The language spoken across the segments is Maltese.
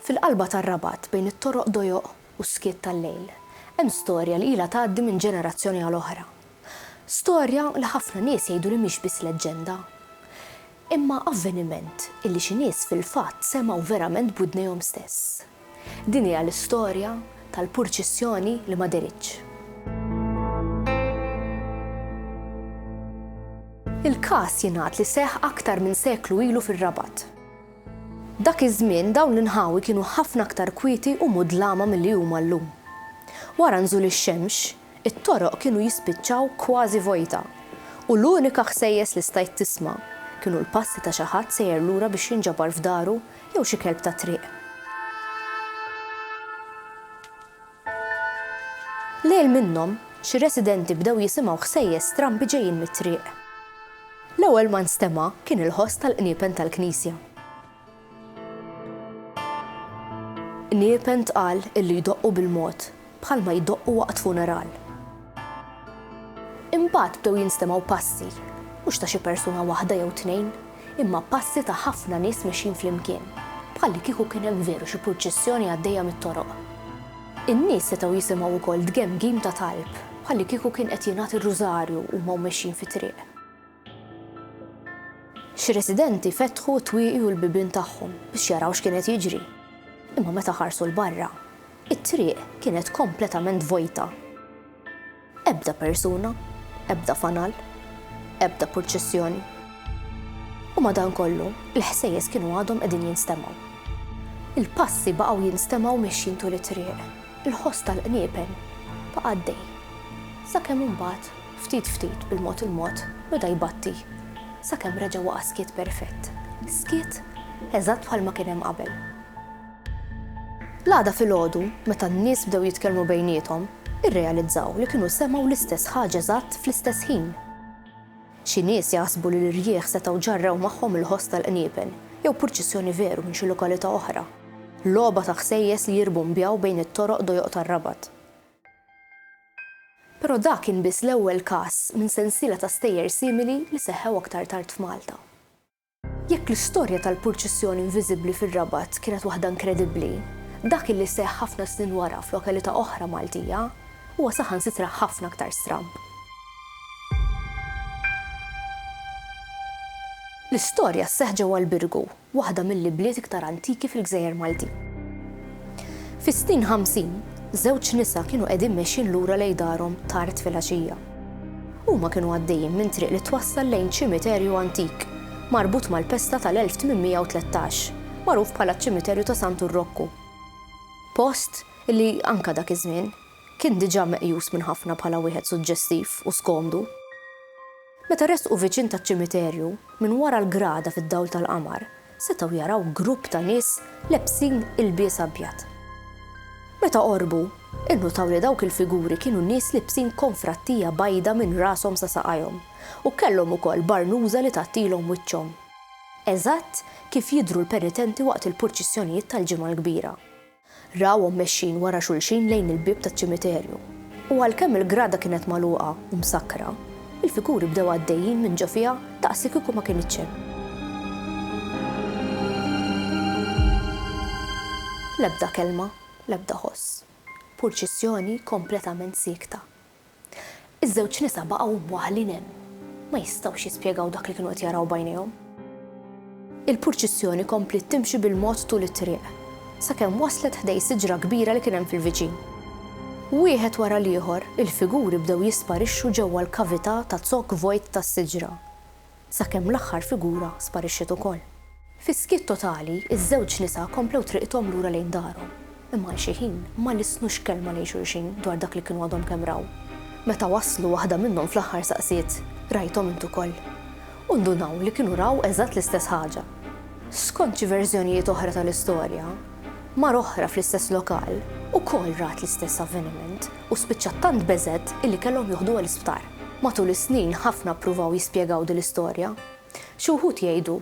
Fil-qalba tar-Rabat, bejn it-toroq dojoq u s-skiet tal-lejl, hemm storja li ilha tgħaddi minn ġenerazzjoni għal oħra. Storja li ħafna nies jgħidu li mhix biss leġġenda. Imma avveniment illi xi nies fil-fatt semgħu verament b'widnejhom stess. Din hija l-istorja tal-purċissjoni li ma dehritx. Il-każ jingħad li seħħ aktar minn seklu ilu fir-Rabat. Dak iż-żmien dawn l-inħawi kienu ħafna aktar kwieti u mudlama milli huma llum. Wara nżul ix-xemx, it-toroq kienu jispiċċaw kważi vojta, u l-unika ħsejjes li stajt tisma' kienu l-passi ta' xi ħadd sejjer lura biex jinġabar f'daru jew xi kelb tat-triq. Lejl minnhom, xi residenti bdew jisimgħu ħsejjes strambi ġejjin mit-triq. L-ewwel ma nstema' kien il-ħoss tal-qniepen tal-knisja. Qniepen tqal illi jdoqqu bil-mod, bħalma jdoqqu waqt funeral. Imbagħad bdew jinstemgħu passi, mhux ta' xi persuna waħda jew tnejn, imma passi ta' ħafna nies mexjin flimkien, bħallikieku kien hemm veru xi pruċċissjoni għaddejja mit-toroq. In-nies setgħu jisimgħu wkoll dgemgim ta' talb, bħallikieku kien qed jingħad ir-rużarju huma u mexjin fit-triq. Xi residenti fetħu t-twieqi u l-bibien tagħhom biex jaraw x'kien qed jiġri, imma meta ħarsu 'l barra, It-triq kienet kompletament vojta. Ebda persuna, ebda fanal, ebda purċissjoni. U madankollu, il-ħsejjes kienu għadhom qegħdin jinstemgħu. Il-passi baqgħu jinstemgħu mexjin tul it-triq. Il-ħoss tal-qniepen baqa' għaddej. Sakemm imbagħad, ftit ftit, bil-mod il-mod, beda jbatti. Sakemm reġa' waqa' skiet perfett. Skiet eżatt bħalma kien hemm qabel. L-għada filgħodu, meta n-nies bdew jitkellmu bejniethom, irrealizzaw li kienu semgħu l-istess ħaġa eżatt fl-istess ħin. Xi nies jaħsbu li l-irjieħ setgħu ġarrew magħhom il-ħoss tal-qniepen, jew purċissjoni veru minn xi lokalità oħra, logħba ta' ħsejjes li jirbumbjaw bejn it-toroq dojoq tar-Rabat. Però dak kien biss l-ewwel każ minn sensiela ta' stejjer simili li seħħew aktar tard f'Malta. Jekk l-istorja tal-purċissjoni inviżibbli fir-Rabat kienet waħda inkredibbli, dak li seħħ ħafna snin wara f'lokalità oħra Maltija huwa saħansitra ħafna aktar stramb. L-istorja sseħħ ġewwa l-Birgu, waħda mill-ibliet iktar antiki fil-gżejjer Maltin. Fis-snin ħamsin, żewġ nisa kienu qegħdin mexjin lura lejn darhom tard filgħaxija. Huma kienu għaddejjin minn triq li twassal lejn ċimiterju antik, marbut mal-pesta tal-1813, magħruf bħala ċ-Ċimiterju ta' Santu Rokku. Post li, anke dak iż-żmien, kien diġà meqjus minn ħafna bħala wieħed suġġestiv u skomdu. Meta resqu viċin taċ-ċimiterju, minn wara l-grada fid-dawl tal-qamar, setgħu jaraw grupp ta' nies lebsin ilbies abjad. Meta qorbu, innutaw li dawk il-figuri kienu nies libsin konfrattija bajda minn rashom sa saqajhom u kellhom ukoll barnuża li tgħattilhom wiċċhom, eżatt kif jidhru l-penitenti waqt il-purċissjonijiet tal-Ġimgħa l-Kbira. Rawhom mexjin wara xulxin lejn il-bieb taċ-ċimiterju. U għalkemm il-grada kienet magħluqa u msakkra, il-figuri bdew għaddejjin minn ġo fiha daqs li kieku ma kinitx hemm. L-ebda kelma, l-ebda ħoss. Purċissjoni kompletament siekta. Iż-żewġ nisa baqgħu mwaħħlin hemm. Ma jistgħux jispjegaw dak li kienu qed jaraw b'għajnejhom. Il-purċissjoni kompliet timxi bil-mod tul it-triq, sakemm waslet ħdej siġra kbira li kien hemm fil-viċin. Wieħed wara l-ieħor, il-figuri bdew jisparixxu ġewwa l-kavità ta' zokk vojt tas-siġra. sakemm l-aħħar figura sparixxiet ukoll. Fi skiet totali, iż-żewġ nisa komplew triqthom lura lejn darhom, imma għal xi ħin ma lissnux kelma lejn xulxin dwar dak li kienu għadhom kemm raw. Meta waslu, waħda minnhom fl-aħħar saqsiet, Rajthom int ukoll? U ndunaw li kienu raw eżatt l-istess ħaġa. Skont xi verżjonijiet oħra tal-istorja, mara oħra fl-istess lokal ukoll rat l-istess avveniment. u spiċċat tant beżgħet illi kellhom joħduha l-isptar. Matul is-snin ħafna ppruvaw jispjegaw din l-istorja. Xi wħud jgħidu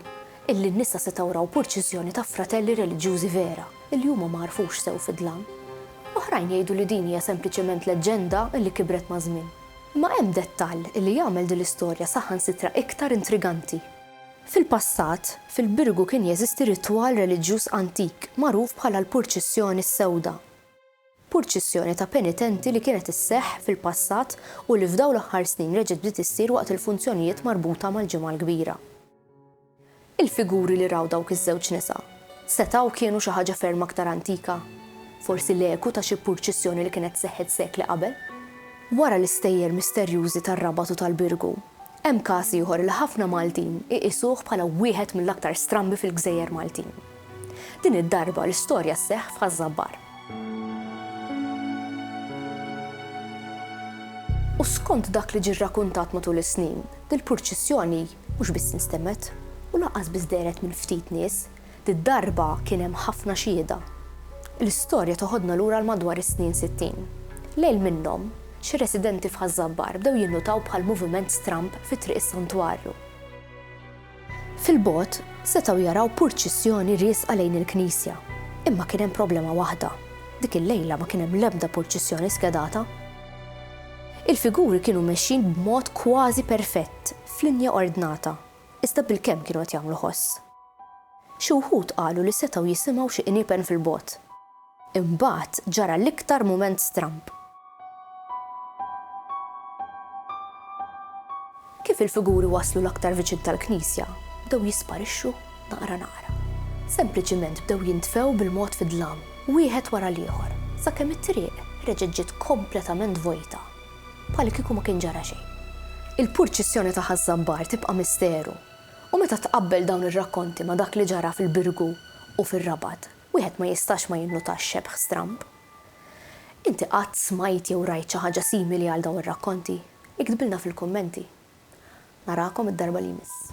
illi n-nisa setgħu raw purċiżjoni ta' fratelli reliġjużi vera illi huma ma għarfux sew fid-dlam. Oħrajn jgħidu li din hija sempliċement leġġenda illi kibret maż-żmien. Imma hemm dettall illi jagħmel din l-istorja saħansitra iktar intriganti. Fil-passat, fil-Birgu kien jeżisti ritwal reliġjuż antik magħruf bħala l-Purċissjoni s-Sewda. purċissjoni ta' penitenti li kienet isseħħ fil-passat u li f'dawn l-aħħar snin reġgħet bdiet issir waqt il-funzjonijiet marbuta mal-Ġimgħa l-Kbira. Il-figuri li raw dawk iż-żewġ nisa setgħu kienu xi ħaġa ferm aktar antika, forsi l-eku ta' xi purċissjoni li kienet seħħet sekli qabel. Wara l-istejjer misterjużi tar-Rabat u tal-Birgu, hemm każ ieħor li ħafna Maltin iqisuh bħala wieħed mill-aktar strambi fil-gżejjer Maltin. Din id-darba l-istorja sseħħ f'Ħaż-Żabbar. U skont dak li ġie rrakuntat matul is-snin, dil-purċissjoni mhux biss instemgħet u lanqas biss dehret minn ftit nies, did-darba kien hemm ħafna xhieda. L-istorja toħodna lura għal madwar is-snin sittin. Lejl minnhom, xi residenti f'Ħaż-Żabbar bdew jinnutaw bħal moviment stramb fi Triq is-Santwarju. Fil-bogħod, setgħu jaraw purċissjoni riesqa lejn il-knisja. Imma kien hemm problema waħda, dik il-lejla ma kien hemm l-ebda purċissjoni skedata. Il-figuri kienu mexjin b'mod kważi perfett, f'linja ordnata, iżda bilkemm kienu qed jagħmlu ħoss. Xi wħud qalu li setgħu jisimgħu xi qniepen fil-bogħod. Imbagħad ġara l-iktar mument stramb. Kif il-figuri waslu l-aktar viċin tal-knisja, bdew jisparixxu naqra naqra. Sempliċiment bdew jintfew bil-mod fid-dlam, wieħed wara l-ieħor, sakemm it-triq reġgħet ġiet kompletament vojta, bħal kieku ma kien ġara xejn. Il-purċissjoni ta' Ħaż-Żabbar tibqa' misteru, u meta tqabbel dawn ir-rakkonti ma' dak li ġara fil-Birgu u fir-Rabat, Wieħed ma jistax ma jinnutax xebh stramb. Inti qatt smajt jew rajt xi ħaġa simili għal dawn ir-rakkonti? Iktbilna fil-kummenti. Narakom id-darba li jmiss.